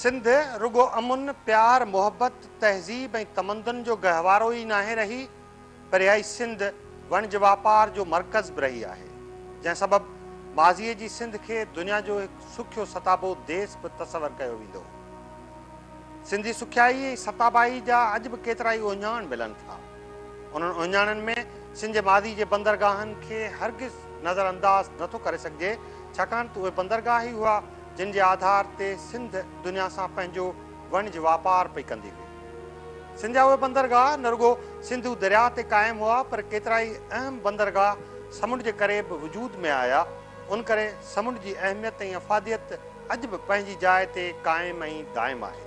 سنڌ رڳو امن، پيار، محبت، تهذيب ۽ تمدن جو گهوارو ئي ناهي رهي پر اها ئي سنڌ وڻج واپار جو مرڪز به رهي آهي جنهن سبب ماضيء جي سنڌ کي دنيا جو هڪ سکيو ستابو ديس به تصور ڪيو ويندو هو. سنڌي سکيائي ۽ ستابائي جا اڄ به ڪيترائي اهڃاڻ ملن ٿا. انهن اهڃاڻن ۾ سنڌ جي ماضي جي بندرگاهن کي هرگز نظر انداز نه ٿو ڪري سگهجي ڇاڪاڻ ته اهي بندرگاهه ئي هئا جن جي آڌار تي سنڌ دنيا سان پنهنجو وڻج واپار پئي ڪندي هئي. سنڌ جا اهي بندرگاهه نه رڳو سنڌو درياهه تي قائم هئا پر ڪيترائي اهم بندرگاهه سمنڊ جي ڪري به وجود ۾ آيا ان ڪري سمنڊ جي اهميت ۽ افاديت اڄ به پنهنجي جاء تي قائم ۽ دائم آهي.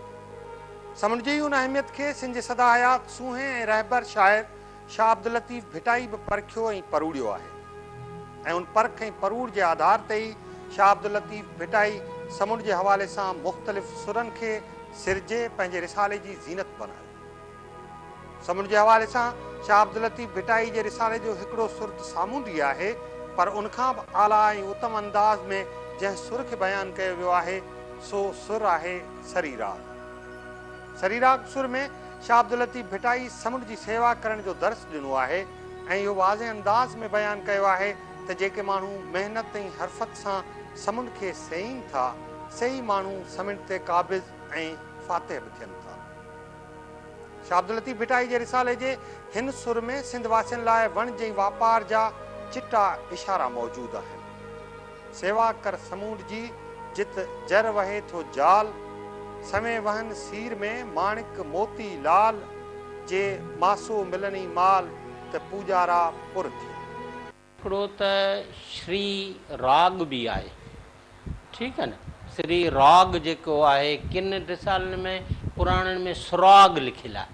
سمنڊ جي ان اهميت کي سنڌ جي سدا حيات سونهين ۽ رهبر شاعر شاهه عبداللطيف ڀٽائي به پرکيو ۽ پروڙيو آهي ۽ ان پرک ۽ پروڙ جي آڌار تي ئي شاهه عبداللطيف ڀٽائي سمنڊ جي حوالي سان مختلف سرن کي سرجي پنهنجي رسالي جي زينت بنايو. سمنڊ جي حوالي سان شاهه عبداللطيف ڀٽائي جي رسالي جو هڪڙو سر ته سامونڊي آهي پر ان کان به اعليٰ ۽ اتم انداز ۾ جنهن سر کي بيان ڪيو ويو آهي سو سر آهي سري راڳ. سري راڳ سر ۾ شاهه عبداللطيف ڀٽائي سمنڊ جي سيوا ڪرڻ جو درس ڏنو آهي ۽ اهو واضح انداز ۾ بيان ڪيو آهي ته جيڪي ماڻهو محنت ۽ حرفت سان سمنڊ کي سيئين ٿا سي ئي ماڻهو سمنڊ تي قابض ۽ فاتح به ٿين ٿا. شاهه عبداللطيف ڀٽائي جي رسالي جي هن سر ۾ سنڌ واسين لاء وڻج ۽ واپار جا چٽا اشارا موجود آهن. سيوا ڪر سمونڊ جي، جت جر وهي ٿو جال، سوين وهن سير ۾، ماڻڪ موتي لال، جي ماسو ملني مال، ته پوڄارا پر ٿين. هڪڙو ته شري راڳ به آهي ٺيڪ آهي نه شري راڳ جيڪو آهي ڪن رسالن ۾ پراڻن ۾ سراڳ لکيل آهي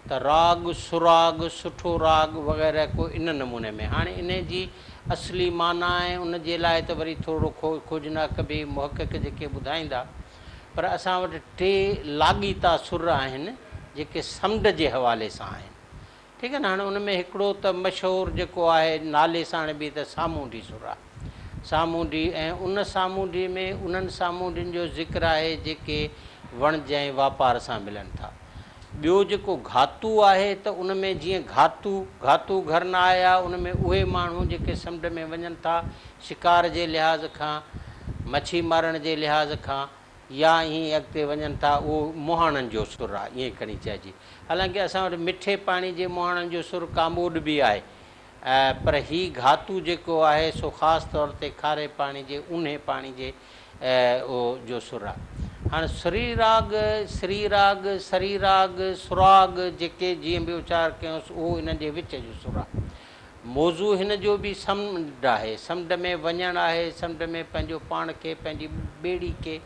ته راڳ، سراڳ، سٺو راڳ وغيره ڪو ان نموني ۾. هاڻي انهيء جي اصلي معنيٰ ۽ ان جي لاء ته وري ٿورڙو کوجنا ڪبي، محقق جيڪي ٻڌائيندا. پر اسان وٽ ٽي لاڳيتا سر آهن، جيڪي سمنڊ جي حوالي سان آهن. ٺيڪ آهي نه؟ هاڻي ان ۾ هڪڙو ته مشهور جيڪو آهي نالي ساڻ به ته سامونڊي سر آهي. سامونڊي ۽ ان سامونڊي ۾ انهن سامونڊين جو ذڪر آهي جيڪي وڻج ۽ واپار سان ملن ٿا. ٻيو جيڪو گهاتو آهي ته ان ۾ جيئن گهاتو، گهاتو گهر نه آيا، ان ۾ اهي ماڻهو جيڪي سمنڊ ۾ وڃن ٿا شڪار جي لحاظ کان، مڇي مارڻ جي لحاظ کان يا ائين اڳتي وڃن ٿا اهو مهاڻن جو سر آهي ائين کڻي چئجي. حالانڪه اسان وٽ مٺي پاڻي جي مهاڻن جو سر ڪاموڏ به آهي پر هي گهاتو جيڪو آهي سو خاص طور تي کاري پاڻي جي اونهي پاڻي جي او جو سر آهي. هاڻ سري راڳ، سري راڳ، سري راڳ، سراڳ جيڪي جيئن به اچار ڪيونس اهو انهن جي وچ جو سر آهي. موضوع هن جو به سمنڊ آهي، سمنڊ ۾ وڃڻ آهي، سمنڊ ۾ پنهنجو پاڻ کي پنهنجي ٻيڙي کي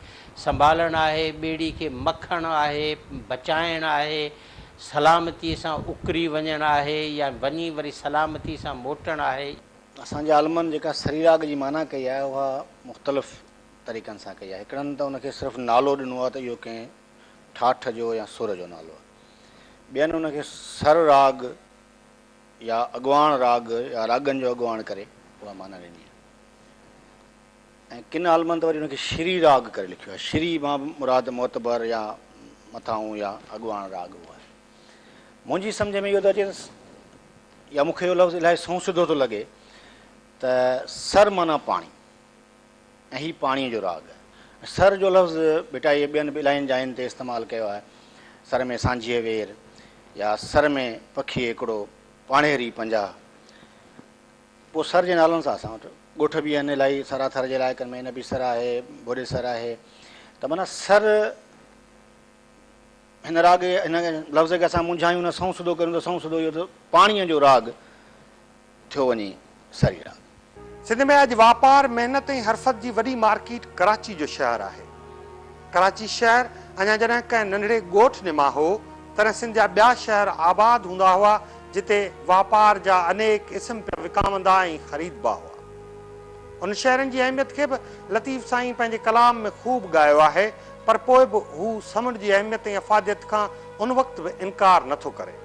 سنڀالڻ آهي، ٻيڙي کي مکڻ آهي، بچائڻ آهي، سلامتيء سان اڪري وڃڻ آهي يا وڃي وري سلامتيء سان موٽڻ آهي؟ اسان جي عالمن جيڪا سريراڳ جي معنيٰ ڪئي آهي، اها مختلف طريقن سان ڪئي آهي. هڪڙن ته ان کي صرف نالو ڏنو آهي ته اهو ڪنهن ٺاٺ جو يا سر جو نالو آهي. ٻين ان کي سر راڳ يا اڳواڻ راڳ يا راڳن جو اڳواڻ ڪري اها معنيٰ ڏني آهي. ۽ ڪن عالمن ته وري ان کي شري راڳ ڪري لکيو آهي. شري مان به مراد معتبر يا مٿاهون يا اڳواڻ راڳ اهو آهي. منهنجي سمجهه ۾ اهو ٿو اچي يا مون کي اهو لفظ الاهي سنئون سڌو ٿو لڳي ته سر معنيٰ پاڻي ۽ هي پاڻيء جو راڳ آهي. سر جو لفظ ڀٽائيء ٻين به الاهين جاين تي استعمال ڪيو آهي. سر ۾ سانجهيء وير يا سر ۾ پکيء هڪڙو پاڻهيري پنجاهه. پوء سر جي نالن سان اسان وٽ ڳوٺ به آهن الائي سرا ٿر جي علائقن ۾ نبي سر آهي ڀوڏي سر آهي ته معنيٰ سر هن راڳ هن لفظ کي اسان مونجهايون نه سنئون سڌو ڪريون ته سنئون سڌو اهو ته پاڻيء جو راڳ ٿيو وڃي سري راڳ. سنڌ ۾ اڄ واپار، محنت ۽ حرفت جي وڏي مارڪيٽ ڪراچي جو شهر آهي. ڪراچي شهر اڃا جڏهن ڪنهن ننڍڙي ڳوٺ نما هو، تڏهن سنڌ جا ٻيا شهر آباد هوندا هئا، جتي واپار جا انيڪ اسم پيا وڪامندا ۽ خريدبا هئا. انهن شهرن جي اهميت کي به لطيف سائين پنهنجي ڪلام ۾ خوب ڳايو آهي، پر پوء به هو سمنڊ جي اهميت ۽ افاديت کان ان وقت به انڪار نه ٿو ڪري.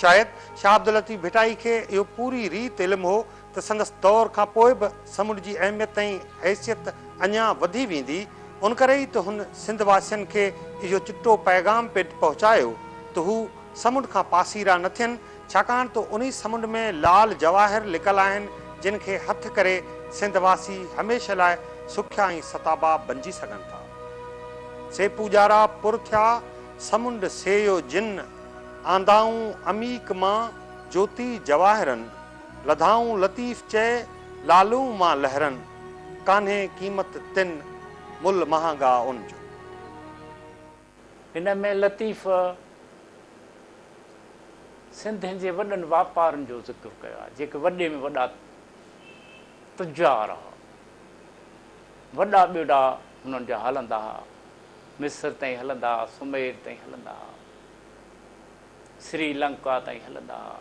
شايد شاهه عبداللطيف ڀٽائي کي اهو پوري ريت علم هو ته سندس دور کان پوء به سمنڊ جي اهميت ۽ حيثيت اڃا وڌي ويندي، ان ڪري ئي ته هن سنڌ واسين کي اهو چٽو پيغام پڻ پهچايو ته هو سمنڊ کان پاسيرا نه ٿين، ڇاڪاڻ ته انهي سمنڊ ۾ لال جواهر لڪل آهن، جن کي هٿ ڪري سنڌ واسي هميشه لاء سکيا ۽ ستابا بنجي سگهن ٿا. سي پوڄارا پر ٿيا، سمنڊ سيئو جن، آندائون عميق مان، جوتي جواهرن. لڌائون لطيف چئي لالون مان لهرن ڪانهي قيمت تن مل مهانگا ان جو. هن ۾ لطيف سنڌين جي وڏن واپارين جو ذڪر ڪيو آهي جيڪي وڏي ۾ وڏا تجار هئا. وڏا ٻيڙا هنن جا هلندا هئا. مصر تائين هلندا هئا، سمير تائين هلندا هئا، سري لنڪا تائين هلندا هئا.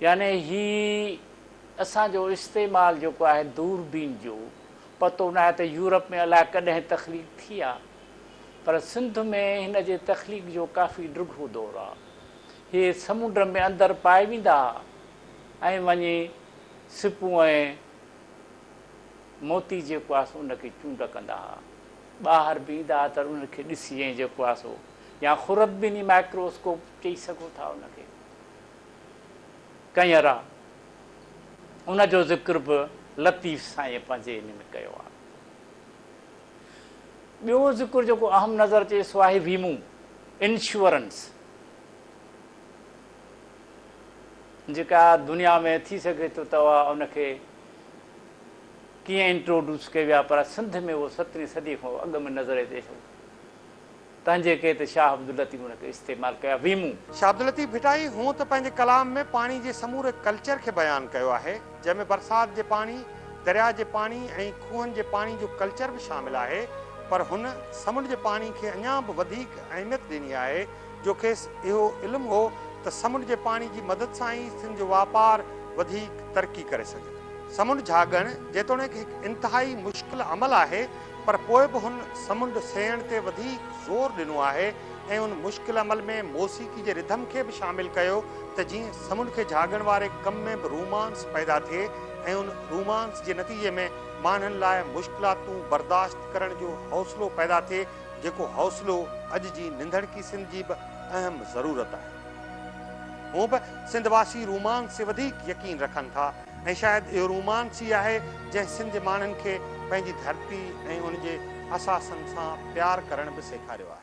يعني هي اسان جو استعمال جيڪو آهي دوربين جو پتو ناهي ته يورپ ۾ الاء ڪڏهن تخليق ٿي آ پر سنڌ ۾ هن جي تخليق جو ڪافي ڊگهو دور آ. هي سمنڊ ۾ اندر پائي ويندا ها ۽ وڃي سپون ۽ موتي جيڪو آهي سو ان کي چونڊ ڪندا ها. ٻاهر بيهندا ها ته انهن کي ڏسي ۽ جيڪو آهي سو يا خردبيني مائڪروسڪوپ چئي سگهو ٿا ان کي ڪئين را ان جو ذڪر به لطيف سائين پنهنجي ان ۾ ڪيو آهي ٻيو ذڪر جيڪو اهم نظر اچي سو آهي ويمو انشورنس جيڪا دنيا ۾ ٿي سگهي ٿو ته ان کي ڪيئن انٽروڊوس ڪئي ويا پر سنڌ ۾ اهو سترهين صدي کان اڳ ۾ نظر اچي ٿو تنهنجي ڪري ته شاهه عبداللطيف ان کي استعمال ڪيا ويمون. شاهه عبداللطيف ڀٽائي هونء ته پنهنجي ڪلام ۾ پاڻي جي سموري ڪلچر کي بيان ڪيو آهي جنهن ۾ برسات جي پاڻي، درياء جي پاڻي ۽ کوهن جي پاڻي جو ڪلچر به شامل آهي پر هن سمنڊ جي پاڻي کي اڃان به وڌيڪ اهميت ڏني آهي جو کيس اهو علم هو ته سمنڊ جي پاڻي جي مدد سان ئي سنڌ جو واپار وڌيڪ ترقي ڪري سگهي ٿو. سمنڊ جهاڳڻ جيتوڻيڪ هڪ انتهائي مشڪل عمل آهي پر پوء به هن سمنڊ سيئڻ تي وڌيڪ زور ڏنو آهي ۽ ان مشڪل عمل ۾ موسيقي جي رڌم کي به شامل ڪيو ته جيئن سمنڊ کي جهاڳڻ واري ڪم ۾ به رومانس پيدا ٿئي ۽ ان رومانس جي نتيجي ۾ ماڻهن لاء مشڪلاتون برداشت ڪرڻ جو حوصلو پيدا ٿئي جيڪو حوصلو اڄ جي ننڌڻڪي سنڌ جي به اهم ضرورت آهي. هونء به سنڌ واسي رومانس تي وڌيڪ يقين رکن ٿا ۽ شايد اهو رومانس ئي آهي جنهن سنڌ جي ماڻهن کي پنهنجي ڌرتي ۽ ان جي اثاثن سان پيار ڪرڻ به سيکاريو آهي.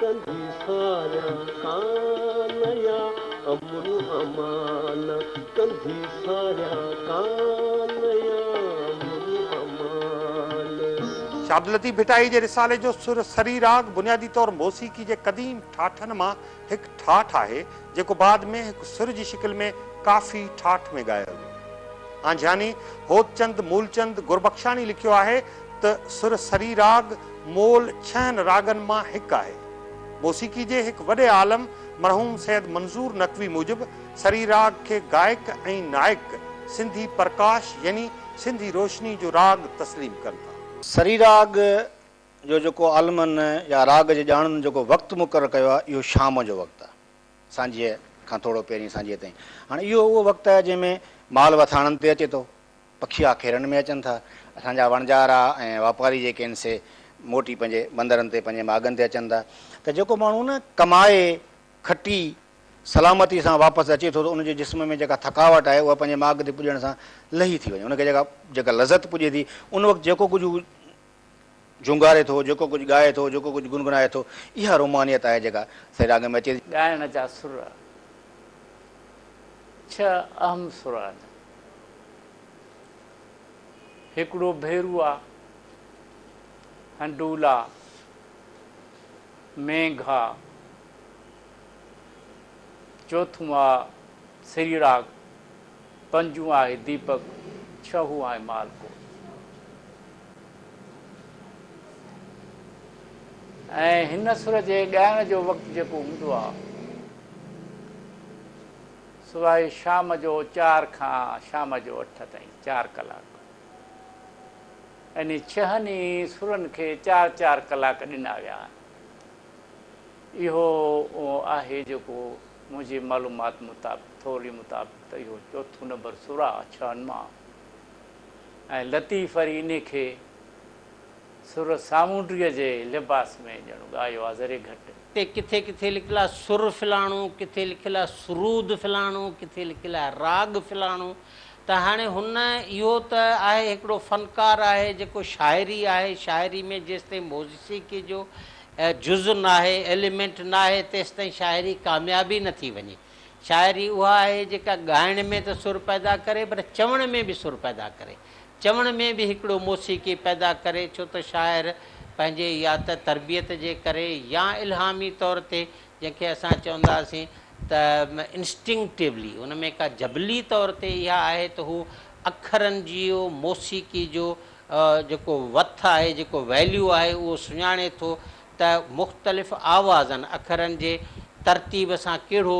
ڪندي ساريان ڪانئا امن امان ڪندي ساريان ڪانئا امن امان. شاهد لطيف ڀٽائي جي رسالي جو سر سري راڳ بنيادي طور موسيقي جي قديم ٺاٺن مان هڪ ٺاٺ آهي، جيڪو بعد ۾ هڪ سر جي شڪل ۾ ڪافي ٺاٺ ۾ ڳايو ويو. آنجهاني هوتچند مولچند گربخشاڻي لکيو آهي ته سر سري راڳ مول ڇهن راڳن مان هڪ آهي. موسيقي جي هڪ وڏي عالم مرحوم سيد منظور نقوي موجب سري راڳ کي گائڪ ۽ نائڪ سنڌي پرڪاش يعني سنڌي روشني جو راڳ تسليم ڪن ٿا. سري راڳ جو جيڪو عالمن يا راڳ جي ڄاڻن جيڪو وقت مقرر ڪيو آهي اهو شام جو وقت آهي سانجهيء کان ٿورو پهرين سانجهيء تائين. هاڻ اهو اهو وقت آهي جنهن ۾ مال وٿاڻن تي اچي ٿو پکي آکيرن ۾ اچن ٿا. اسان جا وڻجارا ۽ واپاري جيڪي آهن سي موٽي پنهنجي بندرن تي پنهنجي ماڳن تي اچن ٿا ته جيڪو ماڻهو نه ڪمائي کٽي سلامتي سان واپس اچي ٿو ته ان جي جسم ۾ جيڪا ٿڪاوٽ آهي اها پنهنجي ماڳ تي پڄڻ سان لهي ٿي وڃي ان کي جيڪا جيڪا لذت پڄي ٿي ان وقت جيڪو ڪجهه هو جهونگاري ٿو، جيڪو ڪجهه ڳائي ٿو، جيڪو ڪجهه گنگنائي ٿو، اها رومانيت آهي جيڪا سائين راڳ ۾ اچي ٿي. ڳائڻ جا سر ڇهه اهم سر آهن. هڪڙو ڀيروء، هنڊولا، مينگها، چوٿون آهي سريراڳ. پنجون آهي ديپڪ، ڇهون آهي مالڪوٽ ۽ هن سر جي ڳائڻ جو وقت جيڪو هوندو آهي سو آهي شام جو چار کان شام جو اٺ تائين چار ڪلاڪ يعني ڇهن ئي سرن کي چار چار ڪلاڪ ڏنا ويا آهن اهو آهي جيڪو منهنجي معلومات مطابق ٿورڙي مطابق ته اهو چوٿون نمبر سر آ ڇهن مان ۽ لطيف وري انهي کي سر سامونڊيء جي لباس ۾ ڄڻ ڳايو آ ذري گهٽ. اتي ڪٿي ڪٿي لکيل آ سر فلاڻو، ڪٿي لکيل آ سرود فلاڻو، ڪٿي لکيل آ راڳ فلاڻو ته هاڻي هن اهو ته آهي هڪڙو فنڪار آهي جيڪو شاعري آهي شاعري ۾ جيستائين موسيقي جو هي جز ناهي، ايليمينٽ ناهي، تيستائين شاعري ڪامياب ئي نٿي وڃي. شاعري اها آهي جيڪا ڳائڻ ۾ ته سر پيدا ڪري پر چوڻ ۾ به سر پيدا ڪري. چوڻ ۾ به هڪڙو موسيقي پيدا ڪري ڇو ته شاعر پنهنجي يا ته تربيت جي ڪري يا الهامي طور تي جنهن کي اسان چونداسين ته Instinctively ان ۾ ڪا جبلي طور تي اها آهي ته هو اکرن جيو موسيقي جو جيڪو وٿ آهي، جيڪو ويليو آهي اهو سڃاڻي ٿو ته مختلف آوازن، اکرن جي ترتيب سان ڪهڙو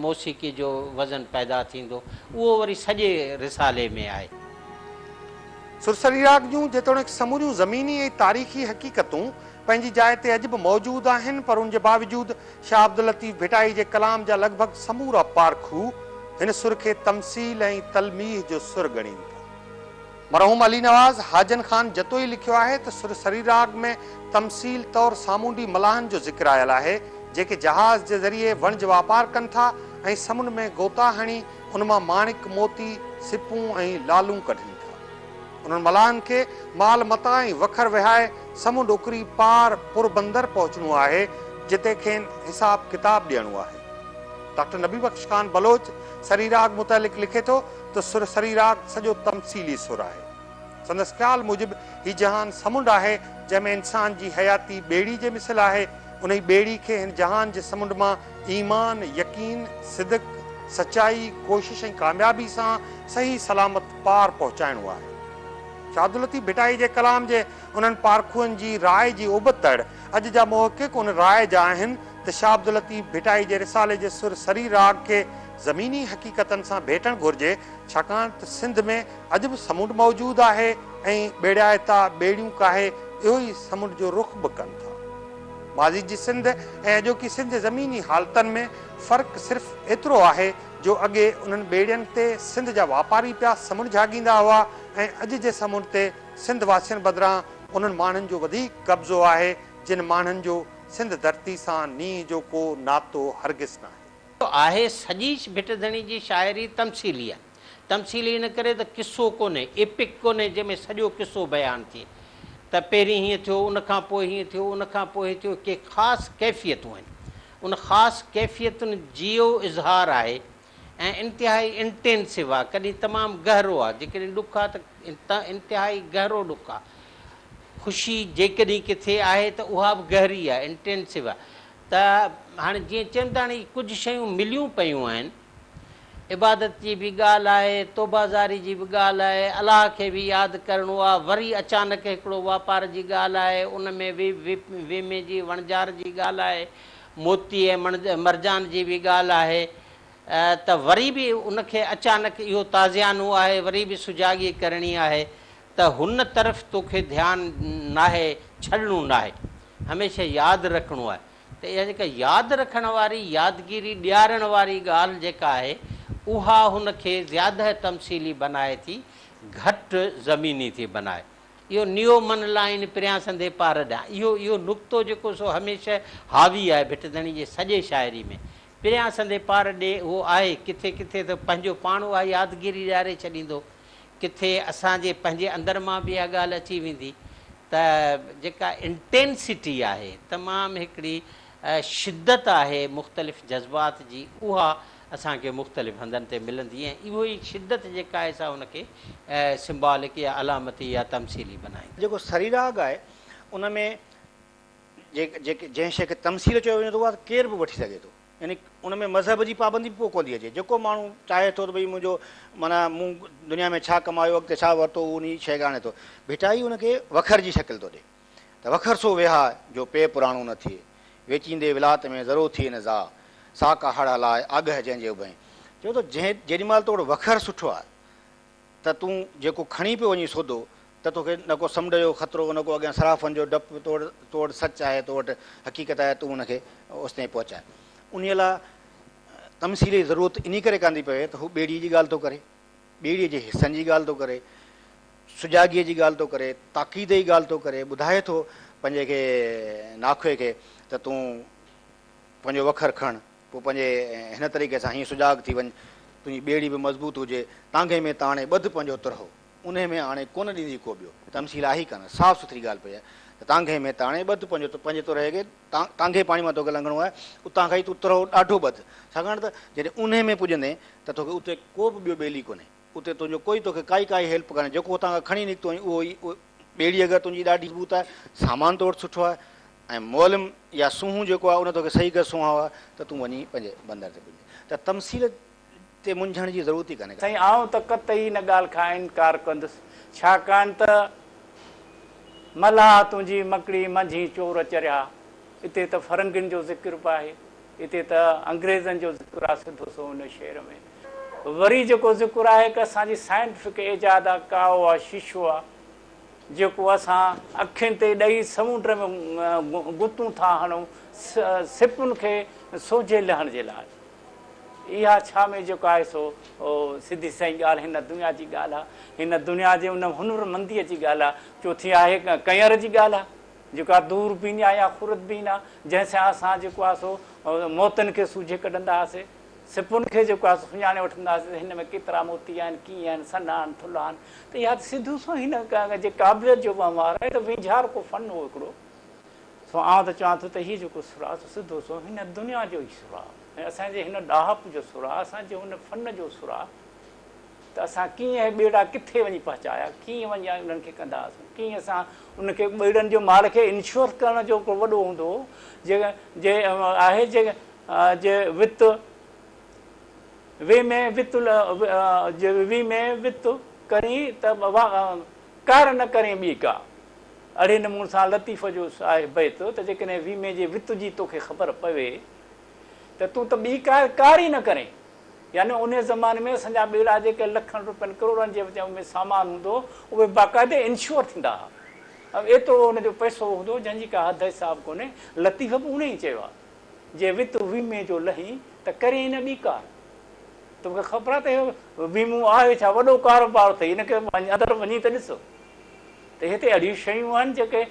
موسيقي جو وزن پيدا ٿيندو. اهو وري سڄي رسالي ۾ آهي. سرسري راڳ جون جيتوڻيڪ سموريون زميني ۽ تاريخي حقيقتون پنهنجي جاء تي اڄ به موجود آهن پر ان جي باوجود شاهه عبداللطيف ڀٽائي جي ڪلام جا لڳ ڀڳ سمورا پارکو هن سر کي تمثيل ۽ تلميح جو سر ڳڻين ٿا. مرحوم علي نواز حاجن خان جتوئي لکيو آهي ته سر سري راڳ ۾ تمثيل طور سامونڊي ملاحن جو ذڪر آيل آهي، جيڪي جهاز جي ذريعي وڻج واپار ڪن ٿا ۽ سمنڊ ۾ غوطا هڻي ان مان ماڻڪ، موتي، سپون ۽ لعلون ڪڍن ٿا. انهن ملاحن کي مال متاع ۽ وکر وهائي سمنڊ اڪري پار پوربندر پهچڻو آهي، جتي کين حساب ڪتاب ڏيڻو آهي. ڊاڪٽر نبي بخش خان بلوچ سري راڳ متعلق لکي ٿو ته سر سري راڳ سڄو تمثيلي سر آهي. سندس خيال موجب هي جهان سمنڊ آهي، جنهن ۾ انسان جي حياتي ٻيڙي جي مثل آهي. انهي ٻيڙي کي هن جهان جي سمنڊ مان ايمان، يقين، صدق، سچائي، ڪوشش ۽ ڪاميابي سان صحيح سلامت پار پهچائڻو آهي. شهادالطيف ڀٽائي جي ڪلام جي انهن پارکوئن جي راء جي اوبت تڙ اڄ جا محقق ان راء جا آهن ته شاهعبداللطيف ڀٽائي جي رسالي جي سر سري راڳ کي زميني حقيقتن سان ڀيٽڻ گهرجي ڇاڪاڻ ته سنڌ ۾ اڄ به سمنڊ موجود آهي ۽ ٻيڙائتا ٻيڙيون ڪاهي اهو ئي سمنڊ جو رخ به ڪن ٿا. ماضي جي سنڌ ۽ اڄوڪي سنڌ جي زميني حالتن ۾ فرق صرف ايترو آهي جو اڳي انهن ٻيڙين تي سنڌ جا واپاري پيا سمنڊ جهاڳيندا هئا ۽ اڄ جي سمنڊ تي سنڌ واسين بدران انهن ماڻهن جو وڌيڪ قبضو آهي جن ماڻهن جو سنڌ ڌرتي سان نينهن جو ڪو ناتو هرگز ناهي. آهي. سڄي ڀٽ ڌڻي جي شاعري تمثيلي آهي. تمثيلي ان ڪري ته قصو ڪونهي، ايپڪ ڪونهي جنهن ۾ سڄو قصو بيان ٿئي ته پهرين هيئن ٿيو، ان کان پوء هيئن ٿيو، ان کان پوء هيئن ٿيو، ڪي خاص ڪيفيتون آهن. ان خاص ڪيفيتن جيو اظهار آهي ۽ انتهائي انٽينسو آهي، ڪڏهن تمام گهرو آهي، جيڪڏهن ڏک آهي ته انتهائي گهرو ڏک آهي. خوشي جيڪڏهن ڪٿي آهي ته اها به گهري آهي، انٽينسو آهي. ته هاڻي جيئن چئن ته هاڻي ڪجهه شيون مليون پيون آهن، عبادت جي به ڳالهه آهي، توبه زاري جي به ڳالهه آهي، الله کي به ياد ڪرڻو آهي، وري اچانڪ هڪڙو واپار جي ڳالهه آهي، ان ۾ به ويمي جي وڻجار جي ڳالهه آهي، موتي ۽ مرجان جي به ڳالهه آهي ته وري به ان کي اچانڪ اهو تازيانو آهي، وري به سجاڳي ڪرڻي آهي ته هن طرف توکي ڌيان ناهي ڇڏڻو ناهي هميشه ياد رکڻو آهي ته اها جيڪا ياد رکڻ واري يادگيري ڏيارڻ واري ڳالهه جيڪا آهي اها هن کي زياده تمثيلي بنائي ٿي گهٽ زميني ٿي بنائي اهو نيو من لائين پريان سندي پار ڏيان اهو اهو نقطو جيڪو سو هميشه حاوي آهي ڀٽ ڌڻي جي سڄي شاعري ۾ پريان سندي پار ڏي اهو آهي ڪٿي ڪٿي ته پنهنجو پاڻ اها يادگيري ڏياري ڇڏيندو ڪٿي اسان جي پنهنجي اندر مان به اها ڳالهه اچي ويندي ته جيڪا انٽينسٽي آهي تمام هڪڙي شدت آهي مختلف جذبات جي اها اسان کي مختلف هنڌن تي ملندي ۽ اهو ئي شدت جيڪا آهي سا ان کي سمبالڪ يا علامتي يا تمثيلي بنائيندي. جيڪو سريراڳ آهي ان ۾ جنهن شيء کي تمثيل چيو وڃي ٿو اها ته ڪير به وٺي سگهي ٿو. يعني ان ۾ مذهب جي پابندي به پوء ڪون ٿي اچي. جيڪو ماڻهو چاهي ٿو ته ڀئي منهنجو معنيٰ مون دنيا ۾ ڇا ڪمايو، اڳتي ڇا ورتو اهو انهيء شيء کي آڻي ٿو. ڀٽائي ان کي وکر جي شڪل ٿو ڏئي ته وکر سو ويها جو پيء پراڻو نه ٿئي. ويچيندي ولات ۾ ذرو ٿئي نه زاء. ساڪ هڙ هلاء آگهه جنهن جي اڀئين. چوي ٿو جنهن جيڏي مهل توڙ وکر سٺو آهي ته تون جيڪو کڻي پيو وڃين سودو، ته توکي نه ڪو سمنڊ جو خطرو، نه ڪو اڳيان صرافن جو ڊپ، تو وٽ تو وٽ سچ آهي، تو وٽ حقيقت آهي، تون ان کي اوستائين پهچاء. انهيء لاء تمثيل جي ضرورت انهيء ڪري ڪانه ٿي پوي ته هو ٻيڙيء جي ڳالهه ٿو ڪري، ٻيڙيء جي حصن جي ڳالهه ٿو ڪري، سجاڳيء جي ڳالهه ٿو ڪري، تاڪيد جي ڳالهه ٿو ڪري، ٻڌائي ٿو پنهنجي کي ناکوئي کي ته تون پنهنجو وکر کڻ، پوء پنهنجي هن طريقي سان هيئن سجاڳ ٿي وڃ، تنهنجي ٻيڙي به مضبوط هجي، تانگهي ۾ تاڻي ٻڌ پنهنجو ترهو، انهيء ۾ آڻي ڪونه ڏيندي ڪو ٻيو. تمثيل آهي ئي ڪانه، صاف سٿري ڳالهه پئي آهي ته تانگهي ۾ تاڻي ٻڌ پنهنجو، پنهنجي ترهي کي تانگهي پاڻي مان توکي لنگهڻو آهي، اتان کان ئي تون ترهو ڏاڍو ٻڌ، ڇاڪاڻ ته جڏهن انهيء ۾ پڄندين ته توکي اتي ڪو به ٻيو ٻيلي ڪونهي، اتي تنهنجو ڪوئي توکي ڪائي ڪائي هيلپ ڪانهي، جيڪو هتان کان کڻي نڪتو آهين اهو ئي، اهو ئي ٻيڙي اگر تنهنجي ڏاڍي مضبوط آهي، سامان تو وٽ سٺو آهي، ۽ معلم يا سونهون جيڪو آهي ان توکي صحيح ڪري سونهايو آهي ته تون وڃي پنهنجي بندر تي پڄ ته تمثيل تي منجهڻ جي ضرورت ئي ڪانهي ڪا. سائين آئون ته قطعي ان ڳالهه کان انڪار ڪندس ڇاڪاڻ ته ملاح تنهنجي مڪڙي منجهين چور چريا اتي ته فرنگين جو ذڪر به آهي اتي ته انگريزن جو ذڪر آهي سڌو سو ان شعر ۾ وري جيڪو ذڪر آهي ڪه اسان جي سائنٽفڪ ايجاد آهي ڪاوو آهي شيشو آهي جيڪو اسان اکين تي ڏئي سمنڊ ۾ غوطون ٿا هڻون سپن کي سوجهي لهڻ جي لاء. اها ڇا ۾ جيڪو آهي سو سڌي سئي ڳالهه هن دنيا جي ڳالهه آهي. هن دنيا جي ان هنر منديء جي ڳالهه آهي. چوٿين آهي ڪئنئر جي ڳالهه آهي. جيڪو آهي دور بيني آهي يا خرد بين آهي جنهن سان اسان جيڪو آهي سو موتن کي سوجهي ڪڍندا هئاسي. سپن کي جيڪو آهي سو سڃاڻي وٺنداسين ته هن ۾ ڪيترا موتي آهن، ڪيئن آهن، سنها آهن، ٿلها آهن ته اها ته سڌو سنئون هن جي قابليت جو وهنوار آهي، هي ته ويجهار ڪو فن هو هڪڙو. سو آئون ته چوان ٿو ته هي جيڪو سر آهي سو سڌو سنئون هن دنيا جو ئي سر آهي ۽ اسان جي هن ڏاهپ جو سر آهي، اسان جي هن فن جو سر آهي ته اسان ڪيئن هي ٻيڙا ڪٿي وڃي پهچايا، ڪيئن وڃي انهن کي ڪندا هئاسون، ڪيئن اسان ان کي ٻيڙن جو مال کي انشور ڪرڻ جو هڪڙو وڏو هوندو هو جي آهي جي جي وت وي ۾ وت جي وي ۾ وت ڪرين ته ڪار نه ڪرين ٻي ڪا. اھڙي نمون سان لطيف جو آھي بيت ته جيڪڏھن وي ۾ جي وت جي توکي خبر پوي ته تون ته ٻي ڪا ڪار ئي نه ڪرين. يعني انھي زماني ۾ اسان جا ٻيڙا جيڪي لکن روپين ڪروڙن جي وچ ۾ سامان ھوندو اھي باقاعدي انشور ٿيندا ھا ۽ ايترو ان جو پئسو ھوندو جنھن جي ڪا حد حساب ڪونھي. لطيف به اھڙي ئي چيو آھي. جي وت ويمي جو لهين ته ڪرين نه ٻي ڪار. تو کي خبر آهي ته اهو ويمو آهي ڇا؟ وڏو ڪاروبار اٿئي، ان کي اندر وڃي ته ڏس ته هتي اهڙيون شيون آهن جيڪي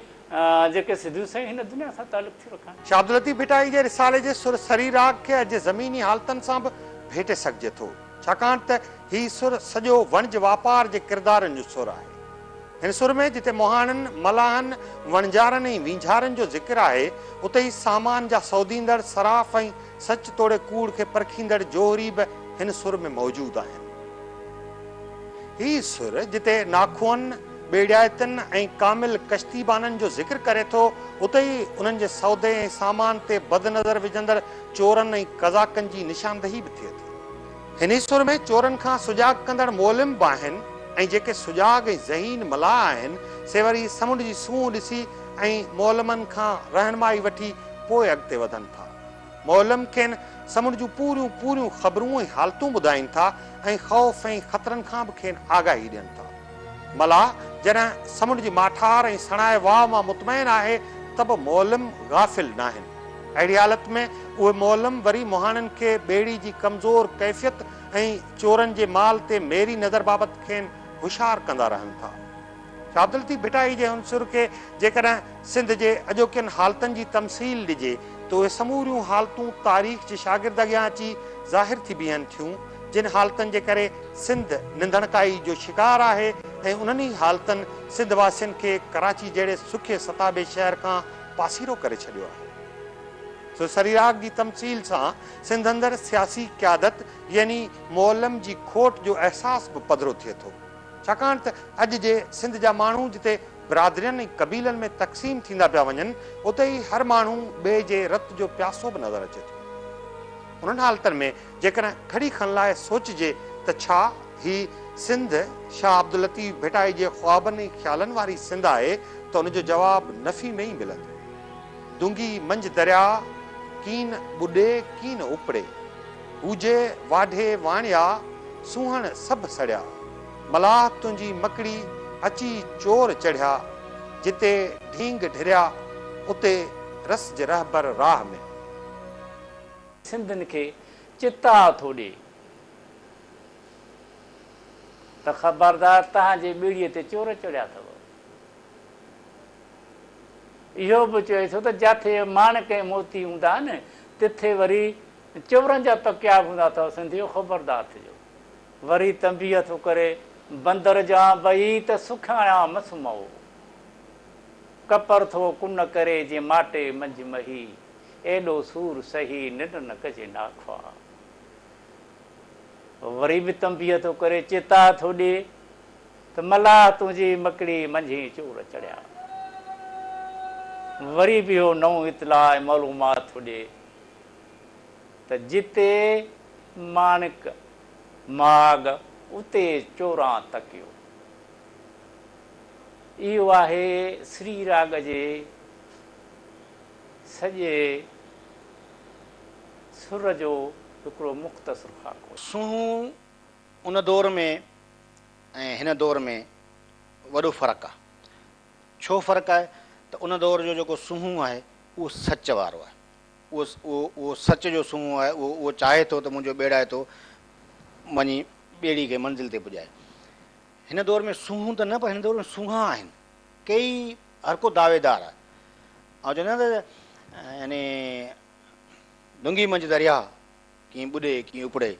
جيڪي سڌيون سنئين هن دنيا سان تعلق ٿيون رکن. شاهه عبداللطيف ڀٽائي جي رسالي جي سر سري راڳ کي اڄ زميني حالتن سان به ڀيٽي سگهجي ٿو، ڇاڪاڻ ته هي سر سڄو وڻج واپار جي ڪردارن جو سر آهي. هن سر ۾ جتي مهاڻن، ملاحن، وڻجارن ۽ وينجهارن جو ذڪر آهي، اتي ئي سامان جا سوديندڙ، صراف ۽ سچ توڙي ڪوڙ کي پرکيندڙ جوهري به هن سر ۾ موجود آهن. هي سر جتي ناخوئن، ٻيڙيائتن ۽ ڪامل ڪشتي بانن جو ذڪر ڪري ٿو، اتي ئي انهن جي سودي ۽ سامان تي بد نظر وجهندڙ چورن ۽ قزاقن جي نشاندهي به ٿئي ٿي. هن سر ۾ چورن کان سجاڳ ڪندڙ معلم به آهن ۽ جيڪي سجاڳ ۽ ذهين ملاح آهن، سي وري سمنڊ جي سونهن ڏسي ۽ معلمن کان رهنمائي وٺي پوء اڳتي وڌن ٿا. معلم کين سمنڊ جون پوريون پوريون خبرون ۽ حالتون ٻڌائين ٿا ۽ خوف ۽ خطرن کان به کين آگاهي ڏين ٿا. ملاح جڏهن سمنڊ جي ماٺار ۽ سڻائي واء مان مطمئن آهي ته به معلم غافل ناهن. اهڙي حالت ۾ اهي معلم وري مهاڻن کي ٻيڙي جي ڪمزور ڪيفيت ۽ چورن جي مال تي ميري نظر بابت کين هوشيار ڪندا رهن ٿا. شاهه عبدالطيف ڀٽائي جي هن سر کي جيڪڏهن سنڌ جي اڄوڪين حالتن جي تمثيل ڏجي ته اهي سموريون حالتون تاريخ جي شاگرد اڳيان اچي ظاهر ٿي بيهن ٿيون، جن حالتن جي ڪري سنڌ ننڌڻڪائي جو شڪار آهي ۽ انهن ئي حالتن سنڌ واسين کي ڪراچي جهڙي سکي ستابي شهر کان پاسيرو ڪري ڇڏيو آهي. سو سريراڳ جي تمثيل سان سنڌ اندر سياسي قيادت يعني معلم جي کوٽ جو احساس به پڌرو ٿئي ٿو، ڇاڪاڻ ته اڄ جي سنڌ جا ماڻهو جتي برادرين ۽ قبيلن ۾ تقسيم ٿيندا پيا وڃن، اتي ئي هر ماڻهو ٻئي جي رت جو پياسو به نظر اچي ٿو. انهن حالتن ۾ جيڪڏهن گهڙي کن لاء سوچجي ته ڇا هي سنڌ شاهه عبداللطيف ڀٽائي جي خوابن ۽ خيالن واري سنڌ آهي ته ان جو جواب نفي ۾ ئي ملندو. دونگي منجهه درياء ڪين ٻڏي ڪين اپڙي. هوجي واڍي واڻيا، سونهن سڀ سڙيا. ملاح تنهنجي مڪڙي اچي چور چڙهيا، جتي ڍينگ ڍريا اتي رسج رهبر راهه ۾. سنڌين کي چتاء ٿو ڏي ته خبردار تنهنجي ٻيڙيء تي چور چڙهيا اٿئو. اهو به چوي ٿو ته جاٿي ماڻڪ ۽ موتي هوندا آهن، تٿي وري چورن جا تڪيا به هوندا اٿئو، سنڌيو خبردار ٿجو. وري تنبيهه ٿو ڪري، بندر جا ٻئي ته سکياڻيا مس مئو. ڪپر ٿو ڪن ڪري جي ماٽي منجهه مهي، ايڏو سور سهي ننڊ نه ڪجي ناخواه. وري به تنبيهه ٿو ڪري، چيتا ٿو ڏي ته ملاح تنهنجي مڪڙي منجهين چور چڙهيا. وري به اهو نئون اطلاع ۽ معلومات ٿو ڏي ته جتي ماڻڪ ماڳ اتي چوران تڪيو. اهو آهي سري راڳ جي سڄي سر جو هڪڙو مختصر خاڪو. سونهون ان دور ۾ ۽ هن دور ۾ وڏو فرق آهي. ڇو فرق آهي ته ان دور جو جيڪو سونهون آهي اهو سچ وارو آهي. اهو، اهو، اهو سچ جو سونهون آهي، اهو، اهو چاهي ٿو ته منهنجو ٻيڙائتو وڃي ٻيڙي کي منزل تي پڄائي. هن دور ۾ سونهون ته نه پر هن دور ۾ سونهان آهن. ڪيئي، هر ڪو دعويدار آهي. آئون چوندو آهيان ته يعني دونگي منجهه درياء، ڪيئي ٻڏي، ڪيئي اپڙي،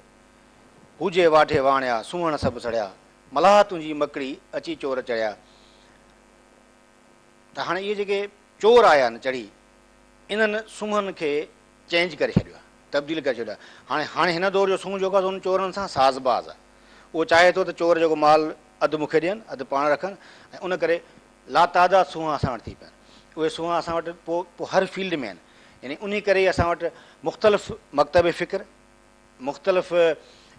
هوجي واٺي واڻيا، سونهن سڀ سڙيا، ملاح تنهنجي مڪڙي، اچي چور چڙهيا. ته هاڻي اهي جيڪي چور آيا آهن چڙهي، انهن سونهن کي چينج ڪري ڇڏيو آهي، تبديل ڪري ڇڏيو آهي. هاڻي هاڻي هن دور جو سونهن جيڪو آهي سو انهن چورن سان ساز باز آهي. اهو چاهي ٿو ته چور جيڪو مال اڌ مون کي ڏين، اڌ پاڻ رکن ۽ ان ڪري لاتعداد سونهن اسان وٽ ٿي پيا آهن. اهي سونهن اسان وٽ پوء پوء هر فيلڊ ۾ آهن. يعني انهي ڪري ئي اسان وٽ مختلف مڪتب فڪر، مختلف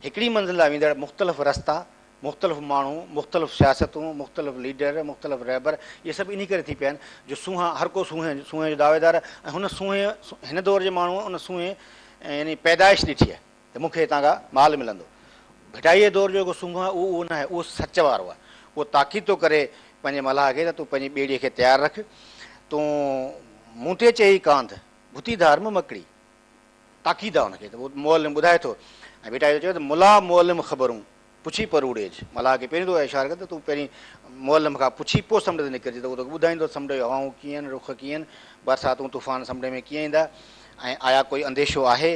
هڪڙي منزل ڏانهن ويندڙ مختلف رستا، مختلف ماڻهو، مختلف سياستون، مختلف ليڊر، مختلف رهبر اهي سڀ انهي ڪري ٿي پيا آهن جو سونهن هر ڪو سونهن سونهن جو دعويدار ۽ هن سونهن هن دور جي ماڻهوء ان سونهن يعني پيدائش ڏٺي آهي ته مون کي هتان کان مال ملندو. ڀٽائيء دور جو جيڪو سونهن آهي اهو اهو ناهي اهو سچ وارو آهي اهو تاڪيد ٿو ڪري پنهنجي ملاح کي ته تون پنهنجي ٻيڙيء کي تيار رک تون مون تي چئي ڪانڌ ڀتي ڌار م مڪڙي. تاڪيد آ ان کي ته اهو معلم ٻڌائي ٿو ۽ ڀٽائي ٿو چوي ته ملا معلم خبرون پڇي پروڙيج ملاح کي پهرين ٿو اها اشاره ڪري ته تون پهرين معلم کان پڇي پوء سمنڊ تي نڪرجي ته اهو توکي ٻڌائيندو ته سمنڊ جون هوائون ڪيئن آهن رخ ڪيئن آهن برساتون طوفان سمنڊ ۾ ڪيئن ايندا ۽ آيا ڪوئي انديشو آهي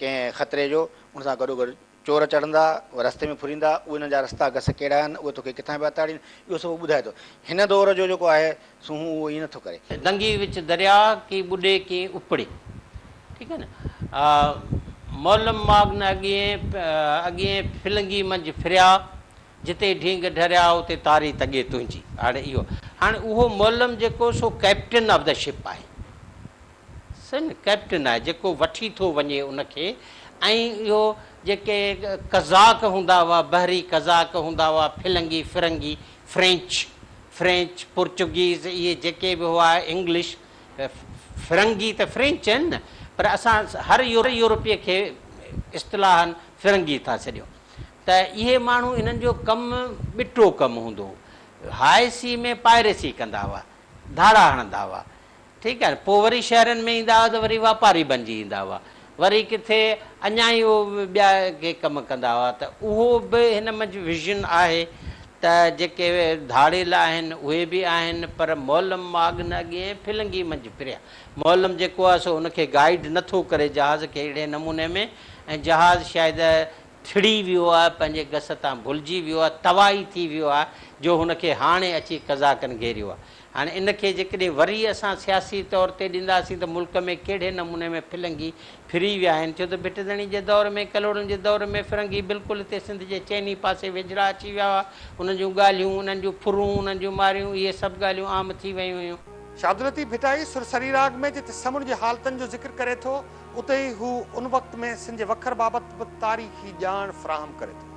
ڪنهن خطري جو ان سان گڏوگڏ چور چڙهندا، اهي رستي ۾ ڦريندا، اهي انهن جا رستا گس ڪهڙا آهن، اهي توکي ڪٿان پيا تاڙين، اهو سڀ هو ٻڌائي ٿو. هن دور جو جيڪو آهي سو هون اهو ائين نه ٿو ڪري. دنگي وچ درياء، ڪي ٻڏي ڪي اپڙي. ٺيڪ آهي نه. مولم ماڳ نه اڳيئين، اڳيئين ڦلنگي منجهه ڦريا، جتي ڍينگ ڍريا، اتي تاري تڳي تنهنجي. هاڻي اهو، هاڻي اهو مولم جيڪو سو ڪئپٽن آف دي شپ آهي. سن ڪئپٽن آهي جيڪو وٺي ٿو وڃي ان کي ۽ اهو جيڪي قزاق هوندا هئا بحري قزاق هوندا هئا ڦلنگي فرنگي فرينچ فرينچ پورچوگيز اهي جيڪي به هئا انگلش فرنگي ته فرينچ آهن نه پر اسان هر يورپي کي اصطلاحن فرنگي ٿا سڏيون ته اهي ماڻهو انهن جو ڪم ٻٽو ڪم هوندو هو هاء سي ۾ پائريسي ڪندا هئا ڌاڙا هڻندا هئا ٺيڪ آهي نه پوء وري شهرن ۾ ايندا هئا ته وري واپاري بنجي ايندا هئا وري ڪٿي اڃا ئي اهي ٻيا ڪي ڪم ڪندا هئا ته اهو به هن منجهه ويزن آهي ته جيڪي ڌاڙيل آهن اهي به آهن پر مولم ماڳ نه اڳي ۽ ڦلنگي منجهه پھريان مولم جيڪو آهي سو ان کي گائيڊ نه ٿو ڪري جهاز کي اهڙي نموني ۾ ۽ جهاز شايد ٿڙي ويو آهي پنهنجي گس تان ڀلجي ويو آهي تواهي ٿي ويو آهي جو هن کي هاڻي اچي قزاقن گهيريو آهي هاڻي ان کي جيڪڏهن وري اسان سياسي طور تي ڏينداسين ته ملڪ ۾ ڪهڙي نموني ۾ ڦلنگي ڦري ويا آهن ڇو ته ڀٽدڻي جي دور ۾ ڪلهوڙن جي دور ۾ فرنگي بلڪل هتي سنڌ جي چئني پاسي ويجهڙا اچي ويا هئا انهن جون ڳالهيون انهن جون ڦرون انهن جون ماريون اهي سڀ ڳالهيون عام ٿي ويون هيون. شاهدالطيف ڀٽائي سر سري راڳ ۾ جتي سمنڊ جي حالتن جو ذڪر ڪري ٿو اتي ئي هو ان وقت ۾ سنڌ جي وکر بابت به تاريخي ڄاڻ فراهم ڪري ٿو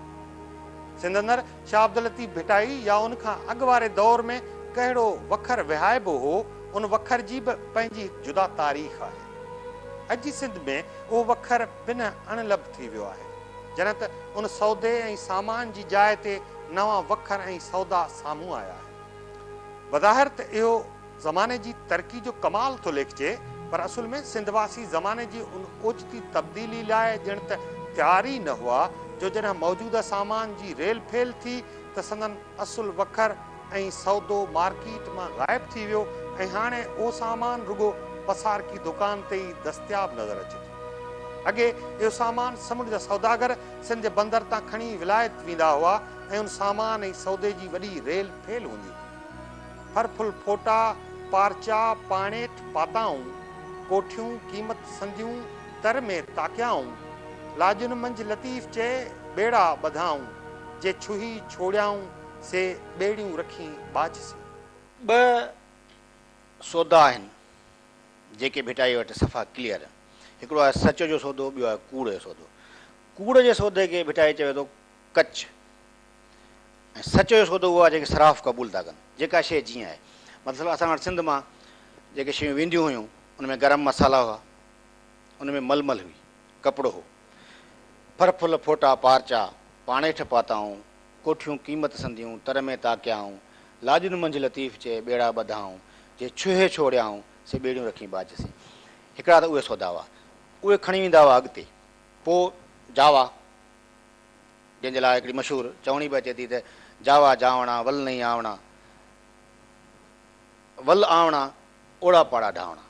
سنڌ اندر شاهه عبداللطيف ڀٽائي يا ان کان اڳ واري دور ۾ ڪهڙو وکر وهائبو هو، ان وکر جي به پنهنجي هڪ جدا تاريخ آهي. اڄ جي سنڌ ۾ اهو وکر پنهن اڻ لڀ ٿي ويو آهي. جڏهن ته ان سودي ۽ سامان جي جاء تي نوان وکر ۽ سودا سامهون آيا آهن. بظاهر ته اهو. زماني جي ترقي جو ڪمال ٿو ليکجي پر اصل ۾ سنڌ واسي زماني جي ان اوچتي تبديلي لاء ڄڻ ته تيار ئي نه هئا جو جڏهن موجوده سامان جي ريل ڦيل ٿي ته سندن اصل وکر ۽ سودو مارڪيٽ مان غائب ٿي ويو ۽ هاڻي اهو سامان رڳو پسارڪي دڪان تي ئي دستياب نظر اچي ٿو. اڳي اهو سامان سمنڊ جا سوداگر سنڌ جي بندر تان کڻي ولايت ويندا هئا ۽ ان سامان ۽ سودي جي وڏي ريل ڦيل هوندي هئي. ڦر ڦل ڦوٽا، پارچا، پاڻيٺ پاتائون، ڪوٺيون قيمت سنديون، تر ۾ تاڪيائون، لاڄن منجھ لطيف چئي، ٻيڙا ٻڌائون، جي ڇهي ڇوڙيائون، سي ٻيڙيون رکين ٻاجھ سين. ٻه سودا آهن، جيڪي ڀٽائيء وٽ صفا ڪليئر آهن. هڪڙو آهي سچ جو سودو، ٻيو آهي ڪوڙ جو سودو. ڪوڙ جي سودي کي ڀٽائي چوي ٿو ڪچ ۽ سچ جو سودو اهو آهي جنهن کي صراف قبول ٿا ڪن جيڪا شيء جيئن آهي مطلب اسان وٽ سنڌ مان جيڪي شيون وينديون هيون ان ۾ گرم مصالحا هئا ان ۾ ململ هئي ڪپڙو هو ڦر ڦل ڦوٽا پارچا پاڻيٺ پاتائون ڪوٺيون قيمت سنديون تر ۾ تاڪيائون لاڄن منجهه لطيف چئي ٻيڙا ٻڌائون جي ڇهي ڇوڙيائون سي ٻيڙيون رکين ٻاجهه سي هڪڙا ته اهي سودا هئا اهي کڻي ويندا هئا اڳتي پوء جاوا جنهن جي لاء هڪڙي مشهور چوڻي به اچي ٿي ته، جاوا جاوڻا ول نئي آوڻا، ول آوڻا اوڙا پاڙا ڍاوڻا.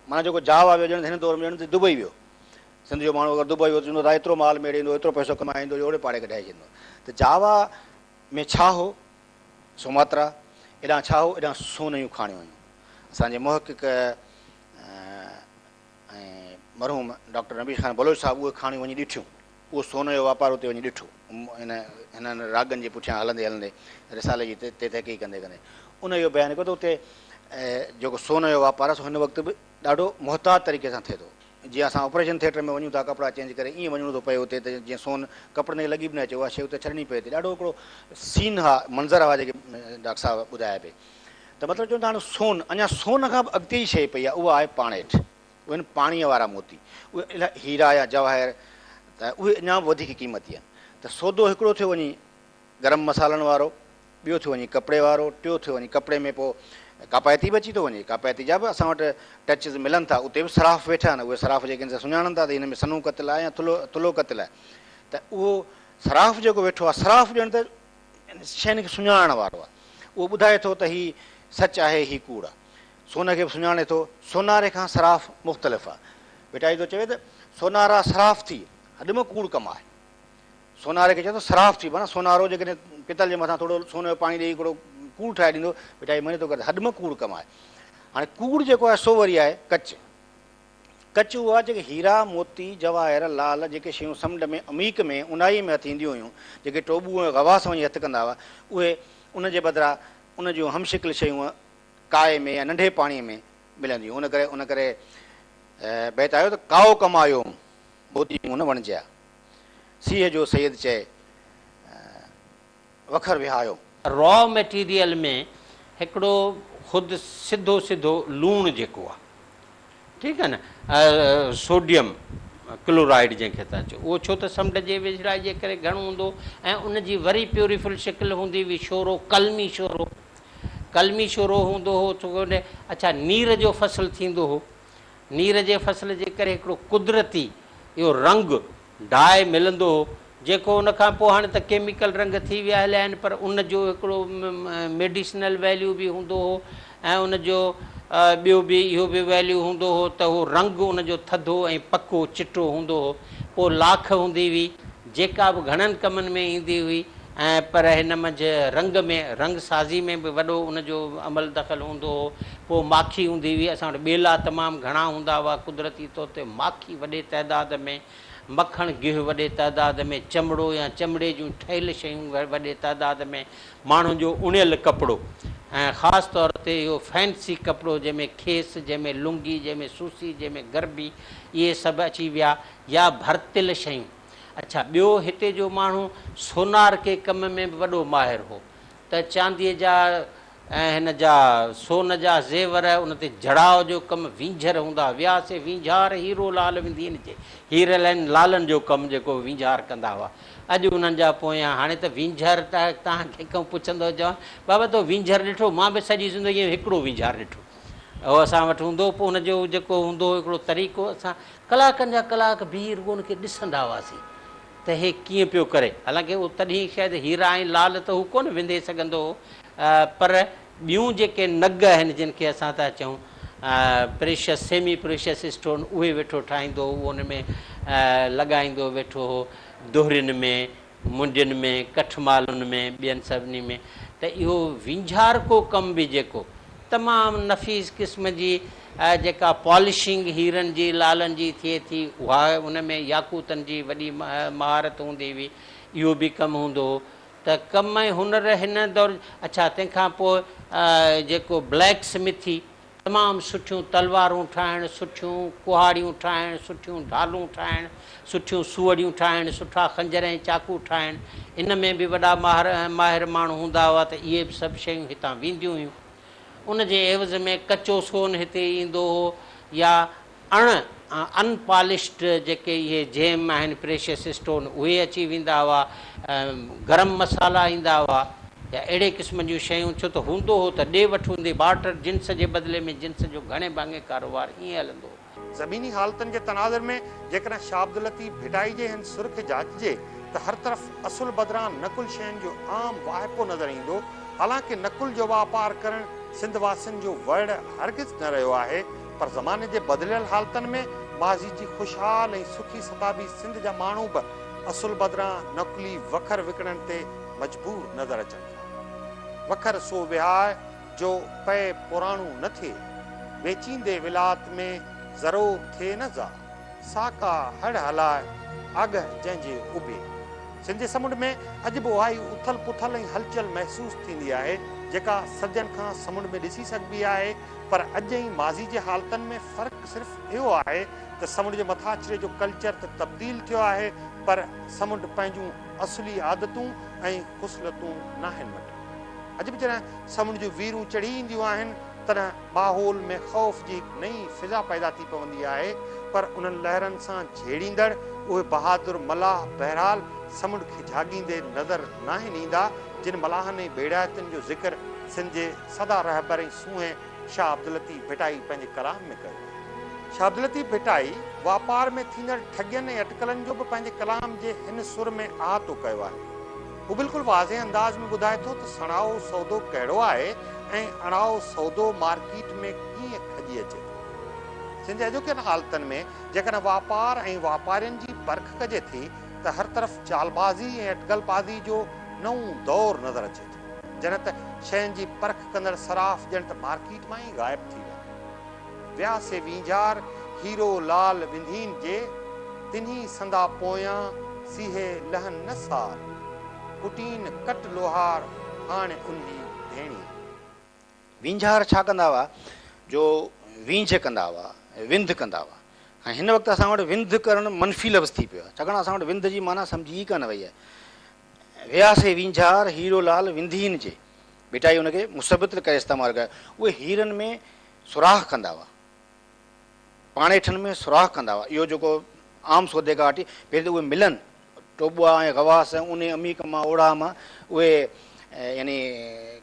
معنيٰ جيڪو جاوا ويو ڄڻ ته هن دور ۾ ڄڻ ته دبئي ويو. سنڌ جو ماڻهو اگر دبئي ويو ته چوندو ادا ايترو مال ميڙي ايندو، ايترو پئسو ڪمائي ايندو جو اوڙي پاڙي کي ڍائي ڇڏيندو. ته جاوا ۾ ڇا هو؟ سوماترا ايڏانهن ڇا هو؟ ايڏانهن سونهن جون کاڻيون هيون. اسان جي محقق ۽ مرحوم ڊاڪٽر نبي خان بلوچ صاحب اهي ڪھاڻيون وڃي ڏٺيون. اهو سون جو واپار اتي وڃي ڏٺو. هن هنن راڳن جي پٺيان هلندي هلندي رسالي جي تي تحقيق ڪندي ڪندي ان اهو بيان ڪيو ته اتي جيڪو سون جو واپار آهي سو هن وقت به ڏاڍو محتاط طريقي سان ٿئي ٿو. جيئن اسان آپريشن ٿيٽر ۾ وڃون ٿا ڪپڙا چينج ڪري ايئن وڃڻو ٿو پئي اتي ته جيئن سون ڪپڙن کي لڳي به نه اچي اها شيء اتي ڇڏڻي پئي ٿي. ڏاڍو هڪڙو سين ها منظر هئا جيڪي ڊاڪٽر صاحب ٻڌايا پئي. ته مطلب چون ٿا هاڻ سون، اڃا سون کان به اڳتي جي شيء پئي آهي اها آهي پاڻيٺ، اهي آهن پاڻيء وارا موتي، اهي الا هيرا يا جواهر ته اهي اڃا به وڌيڪ قيمتي آهن. ته سودو هڪڙو ٿيو وڃي گرم مصالحن وارو، ٻيو ٿيو وڃي ڪپڙي وارو، ٽيو ٿيو وڃي ڪپڙي ۾ پوء ڪاپائتي به اچي ٿو وڃي، ڪاپائتي جا به اسان وٽ ٽچز ملن ٿا، اتي به صراف ويٺا آهن، اهي صراف جيڪي آهن سي سڃاڻن ٿا ته هن ۾ سنهون ڪتل آهي يا ٿلهو ٿلهو ڪتل آهي، ته اهو صراف جيڪو ويٺو آهي، صراف ڄڻ ته ان شين کي سڃاڻڻ وارو آهي، اهو ٻڌائي ٿو ته هي سچ آهي، هي ڪوڙ آهي. سون کي به سڃاڻي ٿو، سوناري کان صراف مختلف آهي. ڀٽائي ٿو چوي ته سونارا صراف ٿي هڏ ۾ ڪوڙ ڪم آهي. سوناري کي چوي ٿو صراف ٿي معنيٰ سونارو جيڪڏهن پتل جي مٿان ٿورو سون جو پاڻي ڏيئي هڪڙو ڪوڙ ٺاهي ڏيندو، ڀٽائي مڃي ٿو ڪر ته هڏ ۾ ڪوڙ ڪم آهي. هاڻي ڪوڙ جيڪو آهي سو وري آهي ڪچ. ڪچ اها جيڪي هيرا، موتي، جواهر، لعل جيڪي شيون سمنڊ ۾ عميق ۾ اونهائي ۾ هٿ اينديون هيون، جيڪي ٽوٻو ۽ غواص وڃي هٿ ڪندا هئا، اهي ان جي بدران ان جون هم شڪل شيون ڪائي ۾ يا ننڍي پاڻي ۾ ملن ٿيون. ان ڪري ان ڪري بيت آيو ته ڪائو ڪمايو موتي مون نه وڻجيا. سيهه جو سيد چئي. وکر وهايو. را ميٽيريل ۾ هڪڙو خود سڌو سڌو لوڻ جيڪو آ ٺيڪ آ نه سوڊيم ڪلورائيڊ جنهن کي ٿا چئون اهو ڇو ته سمنڊ جي ويجهڙائي جي ڪري گهڻو هوندو ۽ ان جي وري پيوريفل شڪل هوندي هئي شورو قلمي شورو قلمي شورو هوندو هو اڇا نير جو فصل ٿيندو هو. نير جي فصل جي ڪري هڪڙو قدرتي اهو رنگ ڊاء ملندو هو جيڪو ان کان پوء هاڻي ته ڪيميڪل رنگ ٿي ويا هليا آهن پر ان جو هڪڙو ميڊيسنل ويليو به هوندو هو ۽ ان جو ٻيو به اهو به ويليو هوندو هو ته اهو رنگ ان جو ٿڌو ۽ پڪو چٽو هوندو هو پوء لاک هوندي هئي جيڪا به گهڻن ڪمن ۾ ايندي هئي ۽ پر هن منجهه رنگ ۾ رنگ سازي ۾ به وڏو ان جو عمل دخل هوندو هو پوء ماکي هوندي هئي، اسان وٽ ٻيلا تمام گهڻا هوندا هئا، قدرتي طور تي ماکي وڏي تعداد ۾، مکڻ گيهه وڏي تعداد ۾، چمڙو يا چمڙي جون ٺهيل شيون وڏي تعداد ۾، ماڻهن جو اڻيل ڪپڙو ۽ خاص طور تي اهو فينسي ڪپڙو جنهن ۾ کيس، جنهن ۾ لنگي، جنهن ۾ سوسي، جنهن ۾ گربي، اهي سڀ اچي ويا يا ڀرتيل شيون. اڇا ٻيو هتي جو ماڻهو سونار ڪي ڪم ۾ به وڏو ماهر هو ته چانديء جا ۽ هن جا سون جا زيور، ان تي جڙاء جو ڪم، وينجهر هوندا ويا سي وينجهار هيرو لال وندين جي هيرل ۽ لالن جو ڪم جيڪو وينجهار ڪندا هئا اڄ انهن جا پويان هاڻي ته وينجهر ته تان کي ڪو پڇندو چوان بابا تو وينجهر ڏٺو مان به سڄي زندگي ۾ هڪڙو وينجهار ڏٺو اهو اسان وٽ هوندو پو ان جو جيڪو هوندو هڪڙو طريقو اسان ڪلاڪن جا ڪلاڪ بيهي رڳو ان کي ڏسندا هئاسين. ته هي ڪيئن پيو ڪري؟ حالانڪه تڏهن شايد هيرا ۽ لعل ته هو ڪونه وندي سگهندو هو پر ٻيون جيڪي نگ آهن جن کي اسان ٿا چئون پريشس سيمي پريشس اسٽون اهي ويٺو ٺاهيندو هو اهو ان ۾ لڳائيندو ويٺو هو دهرين ۾ منڊين ۾ ڪٺمالن ۾ ٻين سڀني ۾ ته اهو وينجهارڪو ڪم به جيڪو تمام نفيس قسم جي جيڪا پالشنگ هيرن جي، لالن جي ٿئي ٿي اها ان ۾ ياقوتن جي وڏي مهارت هوندي هئي. اهو به ڪم هوندو هو ته ڪم ۽ هنر هن دور اڇا تنهن کان پوء جيڪو بليڪ سمٿي تمام سٺيون تلوارون ٺاهڻ، سٺيون ڪهاڙيون ٺاهڻ، سٺيون ڍالون ٺاهڻ، سٺيون سوئڙيون ٺاهڻ، سٺا خنجر ۽ چاقو ٺاهڻ، ان ۾ به وڏا ماهر ۽ ماهر ماڻهو هوندا هئا ته اهي به سڀ شيون هتان وينديون هيون. ان جي عيوض ۾ ڪچو سون هتي ايندو هو يا اڻ ان پالشڊ جيڪي اهي جيم آهن پريشس اسٽون اهي اچي ويندا هئا، گرم مصالحا ايندا هئا يا اهڙي قسم جون شيون ڇو ته هوندو هو ته ڏي وٺ هوندي بارٽر جنس جي بدلي ۾ جنس جو گهڻي ڀاڱي ڪاروبار ائين هلندو هو. زميني حالتن جي تناظر ۾ جيڪڏهن شاهه عبداللطيف ڀٽائي جي هن سر کي جاچجي ته هر طرف اصل بدران نقل شين جو عام واهپو نظر ايندو، حالانڪه نقل جو واپار ڪرڻ سنڌ واسين جو وڙهه هرگز نه رهيو آهي، پر زماني جي بدليل حالتن ۾ ماضي جي خوشحال ۽ سکي ستابي سنڌ جا ماڻهو به اصل بدران نقلي وکر وڪڻڻ تي مجبور نظر اچن ٿا. وکر سو وهائي، جو پئي پراڻو نه ٿئي، ويچيندي ولاءت ۾ زرو ٿئي نه زا، سا ڪا هڙ هلاء آگهه جنهن جي اڀي. سنڌي سمنڊ ۾ اڄ به اهائي اٿل پٿل ۽ هلچل محسوس ٿيندي آهي، جيڪا صدين کان سمنڊ ۾ ڏسي سگهبي آهي، پر اڄ ۽ ماضي جي حالتن ۾ فرق صرف اهو آهي ته سمنڊ جي مٿاڇري جو ڪلچر ته تبديل ٿيو آهي، پر سمنڊ پنهنجون اصلي عادتون ۽ خصلتون ناهن مٽيون. اڄ به جڏهن سمنڊ جون ويرون چڙهي اينديون آهن، تڏهن ماحول ۾ خوف جي هڪ نئين فضا پيدا ٿي پوندي آهي، پر انهن لهرن سان جهيڙيندڙ اهي بهادر ملاح بهرحال سمنڊ کي جهاڳيندي نظر ناهن ايندا، جن ملاحن ۽ ٻيڙائتين جو ذڪر سنڌ جي سدا رهبر ۽ سونهن شاهه عبداللطيف ڀٽائي پنهنجي ڪلام ۾ ڪيو آهي. شاهه عبداللطيف ڀٽائي واپار ۾ ٿيندڙ ٺڳين ۽ اٽڪلن جو به پنهنجي ڪلام جي هن سر ۾ احاطو ڪيو آهي. هو بلڪل واضح انداز ۾ ٻڌائي ٿو ته سڻائو سودو ڪهڙو آهي ۽ اڻائو سودو مارڪيٽ ۾ ڪيئن کڄي اچي ٿو. سنڌ جي اڄوڪين حالتن ۾ جيڪڏهن واپار ۽ واپارين جي پرک ڪجي ٿي ته هر طرف چالبازي ۽ اٽڪل بازي جو نئون دور نظر اچي ٿو. جڏهن ته شين جي پرک ڪندڙ صراف ڄڻ ته مارڪيٽ مان ئي غائب ٿي ويا. ويا سي وينجهار هيرو لال وندين جي تنهي سندا پويان سيهي لهن نه سار ڪٽين ڪٽ لوهار هاڻ انهي ڌيڻي. وينجهار ڇا ڪندا هئا جو وينجهه ڪندا هئا وند ڪندا هئا ۽ هن وقت اسان وٽ وند ڪرڻ منفي لفظ ٿي پيو آهي ڇاڪاڻ اسان وٽ وند جي معنيٰ سمجهي ئي ڪانه وئي آهي ويا سي وينجهار هيرو لال وندين جي ڀٽائي ان کي مثبت ڪري استعمال ڪيو اهي هيرن ۾ سوراخ ڪندا هئا. پاڻيٺن ۾ سوراخ ڪندا هئا. اهو جيڪو عام سودي گهاٽي پهرين ته اهي ملن ٽوٻوا ۽ غواص ۽ اونهي عميق مان اوڙاهه مان اهي يعني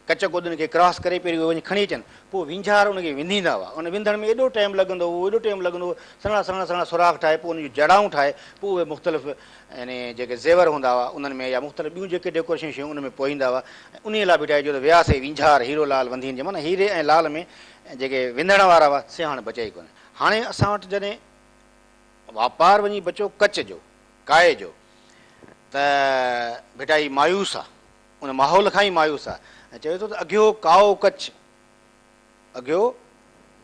ڪچ ڪودن کي ڪراس ڪري پهرين اهي وڃي کڻي اچن پوء وينجهار ان کي ونديندا هئا. ان وندڻ ۾ ايڏو ٽيم لڳندو هو ايڏو ٽيم لڳندو هو سنهڙا سنهڙا سنهڙا سوراخ ٺاهي پوء ان جون جڙائون ٺاهي پوء اهي مختلف يعني جيڪي زيور هوندا هئا انهن ۾ يا مختلف ٻيون جيڪي ڊيڪوريشن جون شيون ان ۾ پوئيندا هئا ۽ انهيء لاء به ٺاهي جو ته وياسي وينجهار هيرو لال وندين جي معنيٰ هيري ۽ لال ۾ جيڪي وندڻ وارا هئا سي هاڻي بچيا ئي ڪونهن. هاڻي اسان وٽ جڏهن واپار وڃي بچيو ڪچ جو، ڪائي جو ته ڀٽائي مايوس آ، ان ماحول کان ئي مايوس آ ۽ چوي ٿو ته اگهيو ڪائو ڪچ اگهيو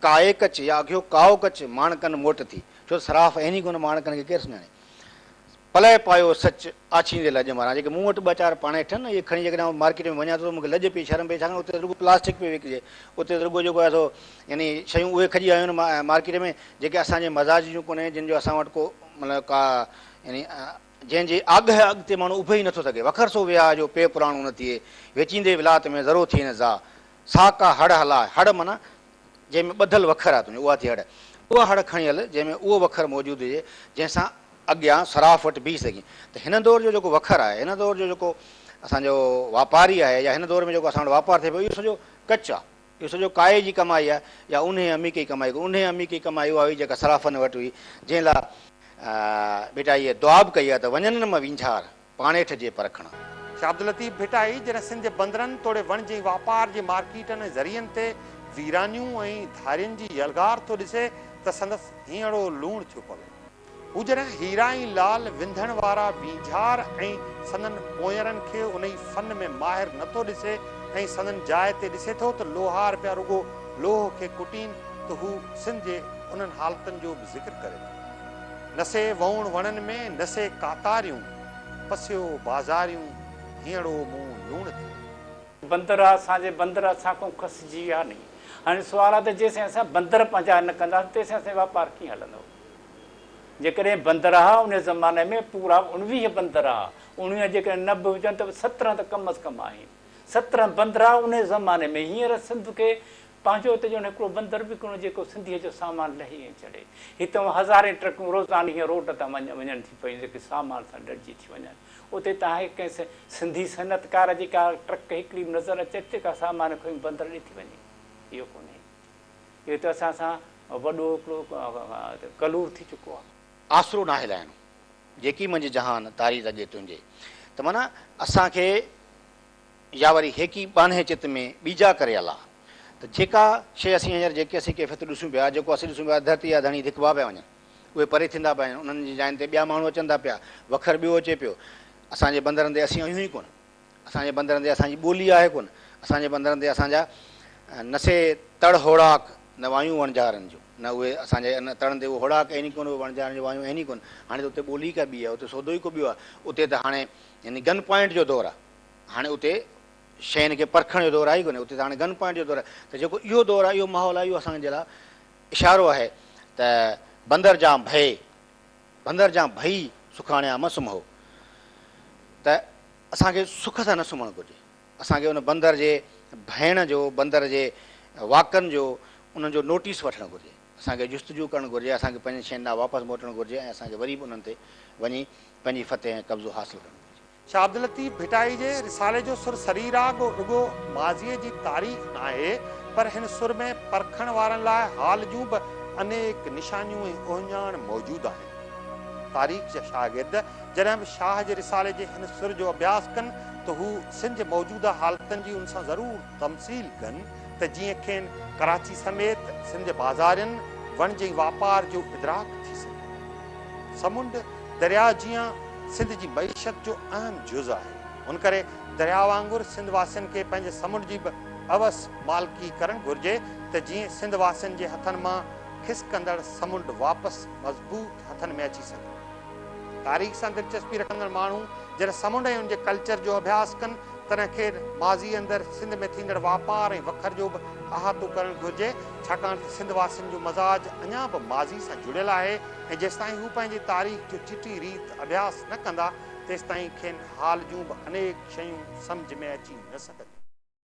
ڪائي ڪچ يا اگهيو ڪائو ڪچ ماڻ ڪن موٽ ٿي، ڇو ته صراف اهني گون ماڻ ڪن کي ڪير سڃاڻي. پلئه پايو سچ، آڇيندي لڄ ماران. جيڪي مون وٽ ٻه چار پاڻي ٺھن، اهي کڻي جيڪڏهن آئون مارڪيٽ ۾ وڃان ٿو ته مون کي لڄ پئي شرم پئي ڇاڪاڻ اتي ته رڳو پلاسٽڪ پئي وڪجي. اتي ته رڳو جيڪو آهي سو يعني شيون اهي کڄي آيون آهن مارڪيٽ ۾ جيڪي اسان جي مزاج جون ڪونهن جن جو اسان وٽ ڪو مطلب ڪا يعني جنهن جي آگهه اڳ تي ماڻهو اڀي ئي نٿو سگهي. وکر سو وياء جو پيء پراڻو نه ٿئي، ويچيندي ولايت ۾ ذرو ٿئي نه زاء. سا ڪا هڙ هلاء، هڙ معنيٰ جنهن ۾ ٻڌل وکر آهي تنهنجو، اها ٿئي هڙ. اها هڙ کڻي هل، جنهن ۾ اهو وکر موجود هجي، جنهن سان اڳيان صراف وٽ بيهي سگهين. ته هن دور جو جيڪو وکر آهي، هن دور جو جيڪو اسان جو واپاري آهي يا هن دور ۾ جيڪو اسان وٽ واپار ٿئي پيو، اهو سڄو ڪچ آهي. اهو سڄو ڪائي جي ڪمائي آهي يا اونهي امي ڪي ڪمائي ڪو اونهي امي ڪي ڪمائي اها هئي جيڪا صرافن وٽ هئي جنهن لا ڀٽائيء دعاب ڪئي آهي ته وڃن نه م وينجهار پاڻيٺ جي پرکڻ. شاهه عبداللطيف ڀٽائي جڏهن سنڌ جي بندرن توڙي وڻج ۽ واپار جي مارڪيٽن ۽ ذريعن تي ويرانيون ۽ ڌارين جي يلغار ٿو ڏسي ته سندس هينئڙو لوڻ ٿيو پوي. هجڻ هيرا ۽ لال وندڻ وارا وينجهار ۽ سندن پونئرن کي انهي فن ۾ ماهر نه ٿو ڏسي ۽ سندن جاء تي ڏسي ٿو ته لوهار پيا رڳو لوهه کي ڪٽين ته هو سنڌ جي انهن حالتن جو به ذڪر ڪري ٿو نه سي وئوڻ وڻن ۾ نه سي ڪاتاريون پسيو بازاريون هينئڙو مون لوڻ ٿيو. بندر آ اسان جي بندر اسان کان کسجي ويا ني هاڻي سوال آ ته جيسين اسان بندر پنهنجا نه ڪنداسين تيسين اسان جو واپار ڪيئن هلندو. جيڪڏهن بندرها ان زماني ۾ پورا اڻويهه بندرها، اڻويهه جيڪڏهن نه به هجن ته به سترهن ته ڪم از ڪم آهن. سترهن بندرها ان زماني ۾ هينئر سنڌ کي پنهنجو هتي ڄڻ هڪڙو بندر به ڪونه جيڪو سنڌيء جو سامان لهي ۽ چڙهي. هتان هزارين ٽرڪون روزاني هينئر روڊ تان وڃن ٿي پيون جيڪي سامان سان ڏڙجي ٿي وڃن. اتي تان هڪ ڪنهن سنڌي صنعتڪار جي ڪا ٽرڪ هڪڙي به نظر اچي ٿي جيڪا سامان کڻي بندر ڏي ٿي وڃي؟ اهو ڪونهي. اهو ته اسان سان وڏو هڪڙو ڪلور ٿي چڪو آهي. آسرو ناهي لائڻو، جيڪي منجهه جهان تاري رڳي تنهنجي. ته معنيٰ اسان کي يا وري هيڪي ٻانهي چت ۾ ٻيجا ڪري الا ته جيڪا شيء اسين هينئر جيڪي اسين ڪيفيتون ڏسون پيا، جيڪو اسين ڏسون پيا، ڌرتي جا ڌڻي ڌڪبا پيا وڃن، اهي پري ٿيندا پيا وڃن، انهن جي جاين تي ٻيا ماڻهو اچن ٿا پيا، وکر ٻيو اچي پيو، اسان جي بندرن تي اسين آهيون ئي ڪونه. اسان جي بندرن تي اسان جي ٻولي آهي ڪونه، اسان جي بندرن تي اسان جا نه سي تڙ هوڙاڪ، نه وايون وڻجارن جون، نه اهي اسان جي ان تڙن تي اهو هوڙاڪ آهن ئي ڪونه، اهي وڻجارن جون وايون آهن ئي ڪونه. هاڻي ته اتي ٻولي ئي ڪا ٻي آهي، اتي سودو ئي ڪو ٻيو آهي. اتي ته هاڻي يعني گن پوائنٽ جو دور آهي. هاڻي اتي شين کي پرکڻ جو دور آهي ئي ڪونه، اتي ته هاڻي گن پوائنٽ جو دور آهي. ته جيڪو اهو دور آهي، اهو ماحول آهي، اهو اسان جي لاء اشارو آهي ته بندر جان ڀئي. ڀنگر جان ڀئي سکاڻيا م سمهو ته اسان کي سک سان نه سمهڻ گهرجي. اسان کي ان بندر جي ڀئڻ جو، بندر جي واڪن جو، انهن جو نوٽيس وٺڻ گهرجي. اسان کي جستجو ڪرڻ گهرجي. اسان کي پنهنجن شين ڏانهن واپس موٽڻ گهرجي ۽ اسان کي وري به انهن تي وڃي پنهنجي فتح ۽ قبضو حاصل ڪرڻ گهرجي. شاهه عبداللطيف ڀٽائي جي رسالي جو سر سري راڳ رڳو ماضيء جي تاريخ ناهي، پر هن سر ۾ پرکڻ وارن لاء حال جون به انيڪ نشانيون ۽ اهڃاڻ موجود آهن. تاريخ جا شاگرد جڏهن به شاهه جي رسالي جي هن سر جو اڀياس ڪن ته هو سنڌ جي موجوده حالتن جي ان سان ضرور تمثيل ڪن ته جيئن کين ڪراچي سميت سنڌ جي بازارين وڻج ۽ واپار جو ادراڪ ٿي سگهي. سمنڊ درياء جيان سنڌ جي معيشت جو اهم جز آهي ان ڪري درياء وانگر سنڌ واسين کي پنهنجي سمنڊ جي به اوس مالڪي ڪرڻ گهرجي ته جيئن سنڌ واسين جي هٿن مان کسڪندڙ سمنڊ واپس مضبوط هٿن ۾ اچي سگهي. تاريخ سان دلچسپي رکندڙ ماڻهو جڏهن سمنڊ ۽ ان جي ڪلچر جو اڀياس ڪن، تڏهن کين ماضيء اندر سنڌ ۾ ٿيندڙ واپار ۽ وکر جو به احاطو ڪرڻ گهرجي، ڇاڪاڻ ته سنڌ واسين جو مزاج اڃا به ماضيء سان جڙيل آهي ۽ جيستائين هو پنهنجي تاريخ جو چٽي ريت اڀياس نه ڪندا، تيستائين کين حال جون به انيڪ شيون سمجهه ۾ اچي نه سگهنديون.